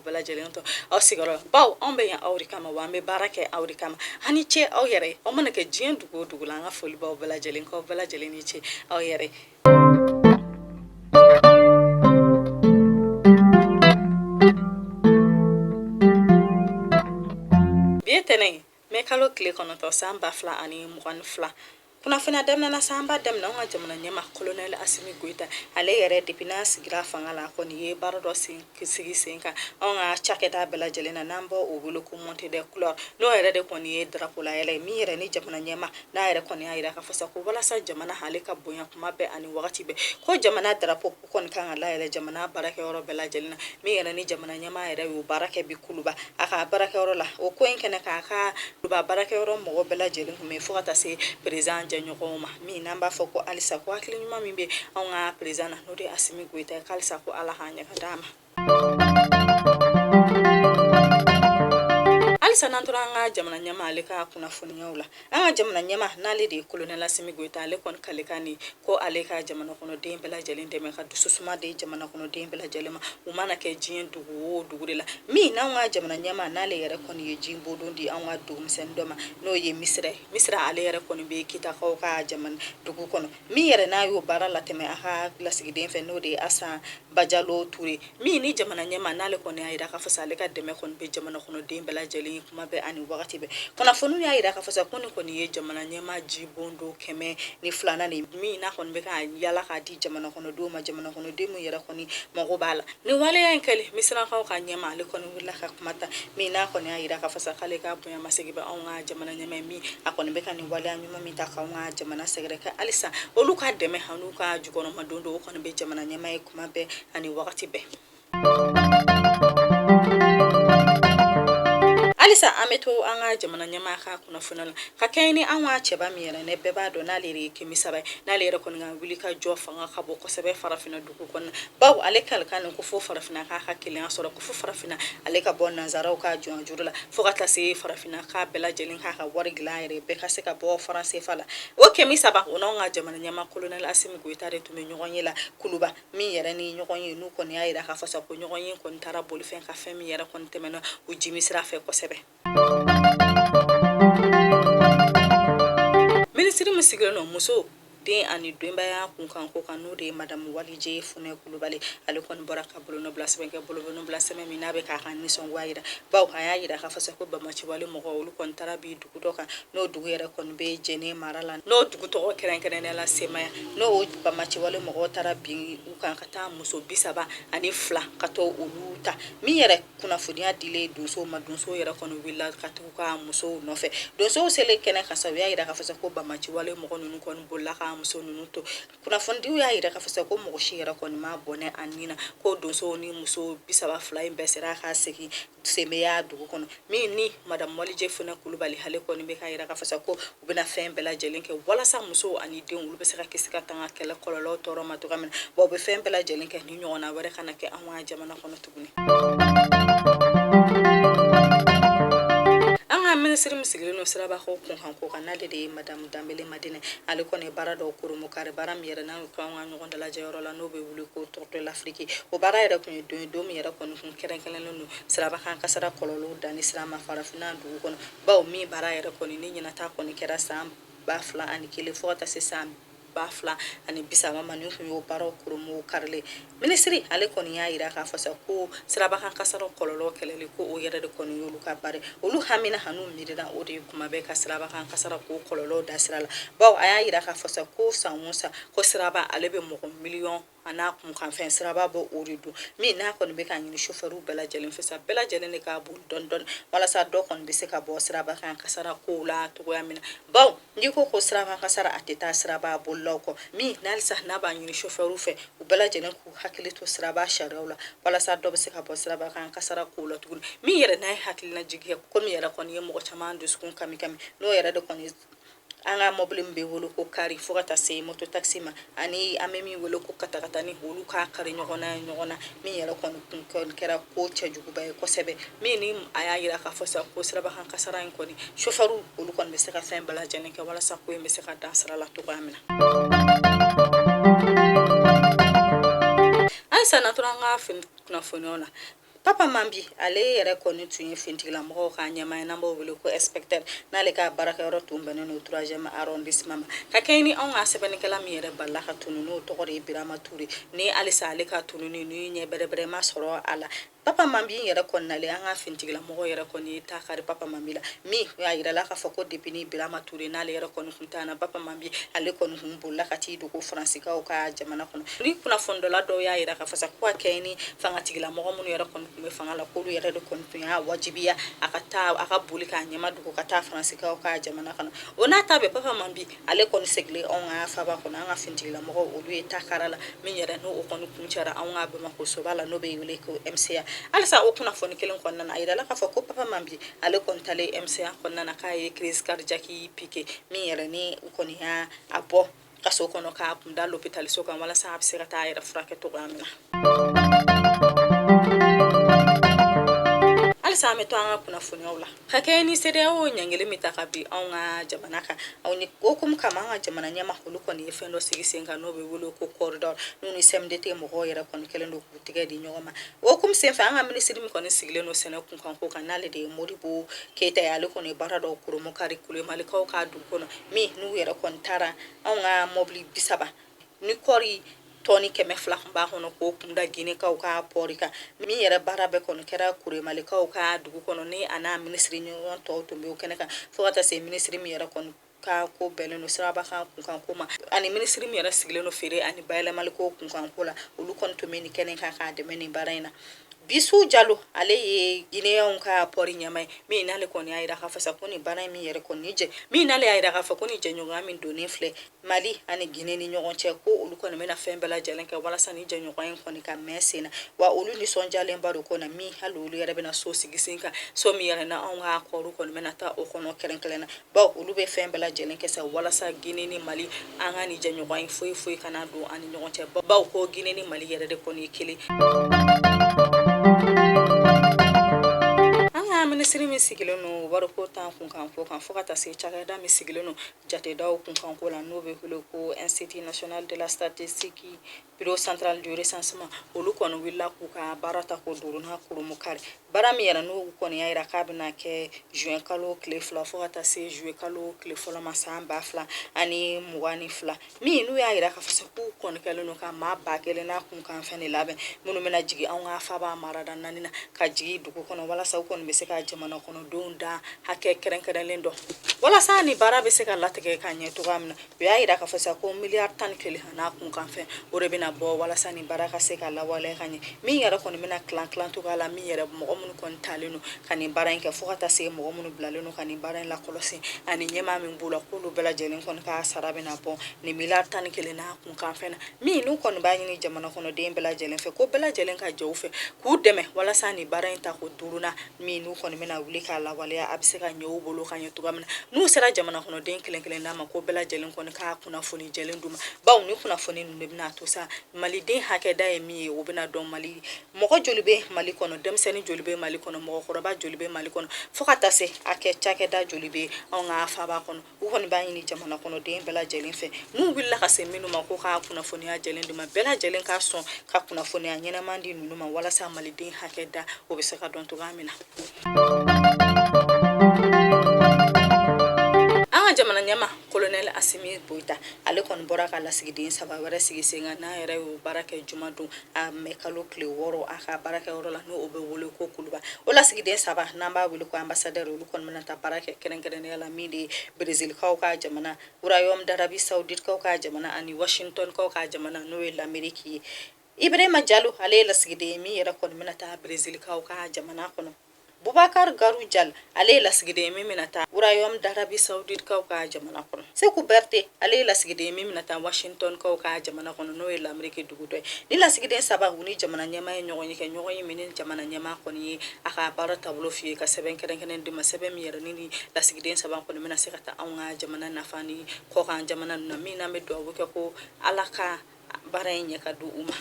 bɛɛ lajɛlen to aw sigiyɔrɔ bawo anw bɛ yan aw de kama wa an bɛ baara kɛ aw de kama a ni ce aw yɛrɛ aw mana kɛ diɲɛ dugu o dugu la an ka foli b'aw bɛɛ lajɛlen k'aw bɛɛ lajɛlen ni ce aw yɛrɛ bi ye tɛnɛ ye mɛ kalo tile kɔnɔntɔn san ba fila ani mugan ni fila kunnafoniya daminɛ na sa an b'a daminɛ an ka jamana ɲɛma kolonɛli asimi goyita ale yɛrɛ depi n'a sigira fanga la kɔni ye baara dɔ sigi sen kan anw ka cakɛda bɛɛ lajɛlen na n'an b'o wele ko montée des couleurs n'o yɛrɛ de kɔni ye darapo layɛlɛ ye min yɛrɛ ni jamana ɲɛma n'a yɛrɛ kɔni y'a yira k'a fɔ sa ko walasa jamana ale ka bonya kuma bɛɛ ani wagati bɛɛ ko jamana darapo u kɔni kan ka layɛlɛ jamana baarakɛyɔrɔ bɛɛ lajɛlen na min yɛrɛ ni jamana ɲɛma yɛrɛ y'o baara kɛ bi kuluba a ka baarakɛyɔrɔ la o ko in kɛnɛ kan kuluba baarakɛyɔrɔ mɔgɔ bɛɛ lajɛlen kun bɛ fo ka taa se perezan jɛɲɔgɔnw ma min n'an b'a fɔ ko halisa ko hakili ɲuman min bɛ anw ka perezan na n'o de ye asimi goyita ye halisa ko ala k'a ɲɛ ka d'a ma halisa n'an tora an ka jamana ɲɛma ale ka kunnafoniyaw la an ka jamana ɲɛma n'ale de ye kolonɛli asimi goyita ale kɔni kalikan de ko ale ka jamana kɔnɔden bɛɛ lajɛlen dɛmɛ ka dususuma di jamana kɔnɔden bɛɛ lajɛlen ma u mana kɛ diɲɛ dugu o dugu de la min n'an ka jamana ɲɛma n'ale yɛrɛ kɔni ye jibondon di an ka dugumisɛnnin dɔ ma n'o ye misira ye misira ale yɛrɛ kɔni bɛ kitakaw ka jamana dugu kɔnɔ min yɛrɛ n'a y'o baara latɛmɛ a ka lasigiden fɛ n'o de ye asan Bajalo Ture min ni jamana ɲɛma n'ale kɔni y'a jira k'a fɔ sa ale ka dɛmɛ kɔni bɛ jamana kɔnɔden bɛɛ lajɛlen kuma bɛɛ ani wagati bɛɛ kunnafoniw y'a jira k'a fɔ sa ko nin kɔni ye jamana ɲɛma jibondon kɛmɛ ni filanan nin min n'a kɔni bɛ ka yala k'a di jamana kɔnɔdenw ma jamana kɔnɔden min yɛrɛ kɔni mago b'a la nin waleya in kɛlen misirakaw ka ɲɛma ale kɔni wulila ka kuma ta min n'a kɔni y'a jira k'a fɔ sa k'ale ka bonya masegin bɛ anw ka jamana ɲɛma min a kɔni bɛ ka nin waleya min ta k'an ka jamana sɛgɛrɛ ko halisa olu ka dɛmɛ an'u ka jukɔrɔmadondon o kɔni bɛ jamana ɲɛma ye kuma bɛɛ ani wagati bɛɛ halisa an bɛ to an ka jamana ɲɛma ka kunnafoni la ka kɛɲɛ ni an ka cɛba min yɛrɛ ni bɛɛ b'a dɔn n'ale de ye kemi seba ye n'ale yɛrɛ kɔni ka wulikajɔ fanga ka bon kosɛbɛ farafinna don bawo ale kalikan ko fo farafinna k'a ka kelenya sɔrɔ ko fo farafinna ale ka bɔ nansaraw ka jɔnya juru la fo ka taa se farafinna k'a bɛɛ lajɛlen k'a ka wari dilan yɛrɛ bɛɛ ka se ka bɔ faransefa la o kemi seba o n'an ka jamana ɲɛma kolonɛli asimi goyita de tun bɛ ɲɔgɔnye la kuluba min yɛrɛ ni ɲɔgɔnye n'u kɔni y'a jira k'a fɔ sa ko ɲɔgɔnye kɔni taara boli fɛn kan fɛn min yɛrɛ kɔni tɛmɛna u jiminsira fɛ kosɛbɛ Minisiri min sigilen don muso den ani denbaya kunkanko kan n'o de ye madamu walije funɛ kulubali ale kɔni bɔra ka bolonɔbila sɛbɛn kɛ bolonɔbila sɛbɛn min n'a bɛ k'a ka nisɔngoya jira bawo a y'a jira k'a fɔ sa ko bamaciwale mɔgɔ olu kɔni taara bin dugu dɔ kan n'o dugu yɛrɛ kɔni bɛ jɛnɛ mara la n'o dugu tɔgɔ kɛrɛnkɛrɛnnenya la semaya n'o bamaciwale mɔgɔ taara bin u kan ka taa muso bi saba ani fila ka t'olu ta min yɛrɛ kunnafoniya dilen donsow ma donsow yɛrɛ kɔni wulila ka tugu u ka musow nɔfɛ donsow selen kɛnɛ kan sa u y'a jira k'a fɔ sa ko banbaanci wale mɔgɔ ninnu kɔni bolila ka muso ninnu to kunnafonidiw y'a jira k'a fɔ sa ko mɔgɔ si yɛrɛ kɔni ma bɔnɛ a nin na ko donsow ni muso bisaba fila in bɛɛ sera ka segin semeya dugu kɔnɔ min ni madamu wadijɛ funɛ kulubali ale kɔni bɛ k'a jira k'a fɔ sa ko U bɛna fɛn bɛɛ lajɛlen kɛ walasa musow ani denw olu bɛ se ka kisi ka tanga kɛlɛ kɔlɔlɔ tɔɔrɔ ma cogoya min na bawo u bɛ fɛn bɛɛ lajɛlen kɛ nin ɲɔgɔnna wɛrɛ kana kɛ an ka jamana kɔnɔ tuguni an ka minisiri min sigilen don sirabako kunkanko kan n'ale de ye madamu danbele madina ale kɔni ye baara dɔw kurunbonkari baara min yɛrɛ n'an ko an ka ɲɔgɔn dalajɛyɔrɔ la n'o bɛ wele ko tour de l'Afrique o baara yɛrɛ ko don min yɛrɛ kɔni kun kɛrɛnkɛrɛnnen don sirabakan kasara kɔlɔlɔw danni sira ma farafinna dugu kɔnɔ bawo min baara yɛrɛ kɔni ɲinan ta kɔni kɛra san ba fila ani kelen fo ka taa se san ba fila ani bisaba ma nin tun y'o baaraw kurunbonkarili ye minisiri ale kɔni y'a yira k'a fɔ sa ko sirabakan kasara kɔlɔlɔ kɛlɛli ko o yɛrɛ de kɔni y'olu ka baara olu hamina an'u miirina o de ye kuma bɛɛ ka sirabakan kasara ko kɔlɔlɔ dan sira la bawo a y'a yira k'a fɔ sa ko san o san ko siraba ale bɛ mɔgɔ miliyɔn an'a kunkanfɛn siraba b'o de dun min n'a kɔni bɛ k'a ɲini sofɛriw bɛɛ lajɛlen fɛ sa bɛɛ lajɛlen de k'a boli dɔɔni dɔɔni walasa dɔ kɔni bɛ se ka bɔ siraba kan kasara kow la cogoya min na bawo n'i ko ko siraba kasara a tɛ taa siraba bolilaw kɔ min ni halisa n'a b'a ɲini sofɛriw fɛ u bɛɛ lajɛlen k'u hakili to siraba sariyaw la walasa dɔ bɛ se ka bɔ siraba kan kasara kow la tuguni min yɛrɛ n'a ye hakilinajigi kɛ ko min yɛrɛ kɔni ye mɔgɔ caman dusukun kami kami n'o yɛrɛ de kɔni an ka mɔbili min bɛ wele ko kari fo ka taa se mototakisi ma ani an bɛ min wele ko katakatani olu ka kari ɲɔgɔn na ɲɔgɔn na min yɛrɛ kɔni kɛra ko cɛjuguba ye kosɛbɛ min ni a y'a jira k'a fɔ sa ko sirabakan kasara in kɔni sofɛriw olu kɔni bɛ se ka fɛn bɛɛ lajɛlen kɛ walasa ko in bɛ se ka dan sira la cogoya min na halisa n'an tora an ka kunnafoniw na Papa Mambi ale yɛrɛ kɔni tun ye finitigilamɔgɔw ka ɲɛmaa ye n'an b'o wele ko inspecteur n'ale ka baarakɛyɔrɔ tun bɛnnen don troisième arrondissement ma ka kɛɲɛ ni anw ka sɛbɛnnikɛla min yɛrɛ balala ka tunun n'o tɔgɔ de ye Birama Ture ni halisa ale ka tununni nin ɲɛ bɛrɛbɛrɛ ma sɔrɔ a la Papa Mambi yɛrɛ kɔni nalen an ka finitigilamɔgɔw yɛrɛ kɔni ye ta kari Papa Mambi la min a yirala k'a fɔ ko depuis ni Birama Ture n'ale yɛrɛ kɔni tununna Papa Mambi ale kɔni tun bolila ka t'i dogo faransikaw ka jamana kɔnɔ ni kunnafonidila dɔw y'a jira k'a fɔ sa ko ka kɛɲɛ ni fangatigila mɔgɔ minnu yɛrɛ kɔni tun bɛ fanga la k'olu yɛrɛ de kɔni tun y'a wajibiya a ka taa a ka boli k'a ɲɛmadogo ka taa faransikaw ka jamana kɔnɔ o n'a ta bɛɛ Papa Mambi ale kɔni seginnen anw ka faaba kɔnɔ an ka finitigilamɔgɔ olu ye ta kari a la min yɛrɛ n'o kɔni kuncɛra an ka Bamakɔ soba la n'o bɛ wele ko MCA halisa o kunnafoni kelen kɔnɔna a jirala k'a fɔ ko Papa Mambi ale kɔni taalen MCA kɔnɔna k'a ye crise cardiaque pike min yɛrɛ ni u kɔni y'a a bɔ kaso kɔnɔ k'a kun da lopitaliso kan walasa a bɛ se ka taa a yɛrɛ furakɛ cogoya min na halisa an bɛ to an ka kunnafoniw la ka kɛ ni sedeyawo ɲangili min ta ka bin anw ka jamana kan o hukumu kama an ka jamana ɲɛmaa olu kɔni ye fɛn dɔ sigi sen kan n'o bɛ wele ko kɔridɔ n'u ni sɛmidete mɔgɔw yɛrɛ kɔni kɛlen don tigɛ di ɲɔgɔn ma o kun senfɛ an ka minisiri min kɔni sigilen don sɛnɛ kunkanko kan n'ale de ye modibo keyita ye ale kɔni ye baara dɔw kurunbonkari kuremalikaw ka dugu kɔnɔ min n'u yɛrɛ kɔni taara anw ka mɔbili bisaba ni kɔɔri tɔni kɛmɛ fila kɔni b'a kɔnɔ k'o kun da ginekaw ka pɔri kan min yɛrɛ baara bɛɛ kɔni kɛra kuremalikaw ka dugu kɔnɔ ni a n'a minisiri ɲɔgɔn tɔw tun bɛ o kɛnɛ kan fo ka taa se minisiri min yɛrɛ kɔni ka ko bɛnnen don siraba kan kunkanko ma ani minisiri min yɛrɛ sigilen don feere ani bayɛlɛmali ko kunkanko la olu kɔni tun bɛ nin kɛnɛ kan k'a dɛmɛ nin baara in na bisu jalo ale ye gineyɛnw ka pɔri ɲɛmaa ye min n'ale kɔni y'a jira k'a fɔ sa ko nin baara in min yɛrɛ kɔni jɛ min n'ale y'a jira k'a fɔ ko nin jɛɲɔgɔnya min donnen filɛ mali ani gine ni ɲɔgɔn cɛ ko olu kɔni bɛna fɛn bɛɛ lajɛlen kɛ walasa ni jɛɲɔgɔn in kɔni ka mɛn sen na wa olu nisɔndiyalenba don kɔni min hali olu yɛrɛ bɛna so sigi sen kan so min yɛrɛ n'anw ka kɔɔri kɔni bɛna taa o kɔnɔ kɛrɛnkɛrɛnnen na bawo olu bɛ fɛn bɛɛ lajɛlen kɛ sa walasa Guinée ni Mali an ka nin jɛɲɔgɔn in foyi foyi kana don an ni ɲɔgɔn cɛ bawo ko Guinée ni Mali yɛrɛ de kɔni ye kelen minisiri min sigilen don wariko tan kunkanko kan fo ka taa se cakɛda min sigilen don jatedaw kunkanko la n'o bɛ wele ko institut national de la statistique Bureau central du recensement olu kɔni wulila k'u ka baara tako duurunan kurunbonkari baara min yɛrɛ n'u kɔni y'a jira k'a bɛna kɛ juin kalo tile fila fo ka taa se juillet kalo tile fɔlɔ ma san ba fila ani mugan ni fila min n'u y'a jira k'a fɔ k'u kɔni kɛlen don ka maa ba kelen n'a kunkanfɛn de labɛn minnu bɛna jigin anw ka faaba marada naani na ka jigin dugu kɔnɔ walasa u kɔni bɛ se ka jamana kɔnɔdenw da hakɛ kɛrɛnkɛrɛnlen dɔn walasa nin baara bɛ se ka latigɛ ka ɲɛ cogoya min na u y'a jira k'a fɔ sa ko miliyari tan ni kelen n'a kunkanfɛn o de bɛna bɔ walasa nin baara ka se ka lawaleya ka ɲɛ min yɛrɛ kɔni bɛna tilan tilan cogoya la min yɛrɛ mɔgɔ minnu kɔni talen don ka nin baara in kɛ fo ka taa se mɔgɔ minnu bilalen don ka nin baara in lakɔlɔsi ani ɲɛmaa min b'u la k'olu bɛɛ lajɛlen kɔni ka sara bɛna bɔ nin miliyari tan ni kelen n'a kunkanfɛn na min n'u kɔni b'a ɲini jamana kɔnɔden bɛɛ lajɛlen fɛ ko bɛɛ lajɛlen ka jɛ u fɛ k'u dɛmɛ walasa nin baara in tako duurunan min n'u kɔni bɛna wuli k'a lawaleya a bɛ se ka ɲɛ u bolo ka ɲɛ cogoya min na n'u sera jamana kɔnɔden kelen kelen da ma ko bɛɛ lajɛlen kɔni ka kunnafoni jɛlen d'u ma bawo nin kunnafoni ninnu de bɛn'a to sa maliden hakɛda ye min ye o bɛna dɔn mali mɔgɔ joli bɛ mali kɔnɔ denmisɛnnin joli bɛ mali kɔnɔ mɔgɔkɔrɔba joli bɛ mali kɔnɔ fo ka taa se a kɛ cakɛda joli bɛ anw ka faaba kɔnɔ u kɔni b'a ɲini jamana kɔnɔden bɛɛ lajɛlen fɛ n'u wulila ka se minnu ma ko ka kunnafoniya jɛlen d'u ma bɛɛ lajɛlen ka sɔn ka kunnafoniya ɲɛnama di ninnu ma walasa maliden hakɛ da o bɛ se ka dɔn cogoya min na an ka jamana ɲɛmaa kolonɛli asimi goyita ale kɔni bɔra ka lasigiden saba wɛrɛ sigi sen kan n'a yɛrɛ y'o baara kɛ juma don a mɛ kalo tile wɔɔrɔ a ka baarakɛyɔrɔ la n'o bɛ wele ko kuluba o lasigiden saba n'an b'a wele ko anbasadɛri olu kɔni bɛna taa baara kɛ kɛrɛnkɛrɛnnenya la min de ye berezilikaw ka jamana royaume d'arabie saoudite kaw ka jamana ani washingtonkaw ka jamana n'o ye lameriki ye ibrahima jalo ale ye lasigiden ye min yɛrɛ kɔni bɛna taa berezilikaw ka jamana kɔnɔ Bubakari Guro Jal, ale ye lasigiden ye min bɛna taa Royaume d'Arabie Saoudite kaw ka jamana kɔnɔ. Seku Bɛrɛte, ale ye lasigiden ye min bɛna taa Washington kaw ka jamana kɔnɔ, n'o ye Lameriki dugu dɔ ye. Nin lasigiden saba u ni jamana ɲɛmaa ye ɲɔgɔn ye kɛ, ɲɔgɔn ye min ni jamana ɲɛmaa kɔni ye a ka baara taabolo f'u ye, ka sɛbɛn kɛrɛnkɛrɛnnen d'u ma, sɛbɛn min yɛrɛ ni nin lasigiden saba kɔni bɛna se ka taa anw ka jamana nafa ɲini kɔkan jamana ninnu na, min n'an bɛ dugawu kɛ ko Ala ka baara in ɲɛ ka di u ma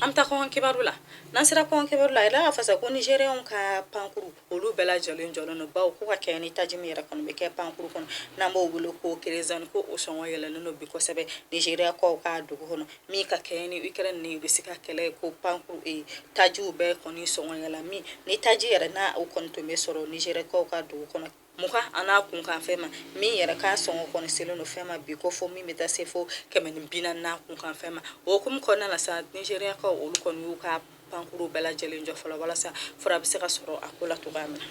an bɛ taa kɔkan kibaru la n'an sera kɔkan kibaru la a yira k'a fɔ sa ko nizeriyɛnw ka pankuru olu bɛɛ lajɛlen jɔlen don bawo ko ka kɛɲɛ ni taji min yɛrɛ kɔni bɛ kɛ pankuru kɔnɔ n'an b'o wele ko kerezani ko o sɔngɔ yɛlɛlen don bi kosɛbɛ nizeriyakaw ka dugu kɔnɔ min ka kɛɲɛ ni ukraine ni irisi ka kɛlɛ ko pankuru e eh, tajiw bɛɛ kɔni sɔngɔ yɛlɛla min ni taji yɛrɛ n'a o kɔni tun bɛ sɔrɔ nizeriyakaw ka dugu kɔnɔ Mugan an'a kunkanfɛn ma min yɛrɛ k'a sɔngɔ kɔni selen don fɛn ma bi ko fɔ min bɛ taa se fo kɛmɛ ni bi naani n'a kunkanfɛn ma o hukumu kɔnɔna na sa nizɛriyakaw olu kɔni y'u ka pankuru bɛɛ lajɛlen jɔ fɔlɔ walasa fura bɛ se ka sɔrɔ a ko la cogoya min na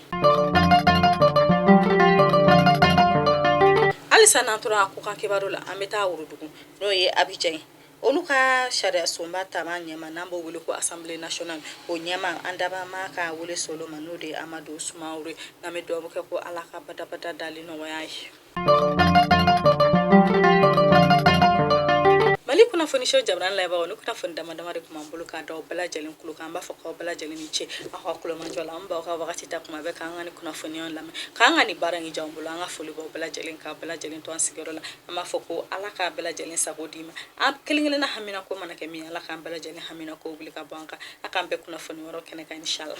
halisa n'an tora kɔkan kibaru la an bɛ taa worodugu n'o ye Abidjan ye Olu ka sariyasunba tamaa ɲɛmaa n'an b'o weele ko assemblée nationale o ɲɛmaa an dabaa maa ka weele sera o ma n'o de ye amadu sumaworo ye n'an bɛ dugawu kɛ ko ala ka badabada dali nɔgɔya a ye mali kunnafoniso jabaranin lajɛbaaw nin kunnafoni dama dama de tun b'an bolo ka d'aw bɛɛ lajɛlen tulo kan an b'a fɔ k'aw bɛɛ lajɛlen ni ce aw ka tulomajɔ la aw b'aw ka waati ta tuma bɛɛ k'an ka nin kunnafoniya lamɛn k'an ka nin baara in diya an bolo an ka foli b'aw bɛɛ lajɛlen k'aw bɛɛ lajɛlen to an sigiyɔrɔ la an b'a fɔ ko ala ka bɛɛ lajɛlen sago d'i ma an kelenkelenna haminanko mana kɛ min ala k'an bɛɛ lajɛlen haminanko wuli ka bɔ an kan a k'an bɛn kunnafoni wɛrɛ kɛnɛ kan inshallah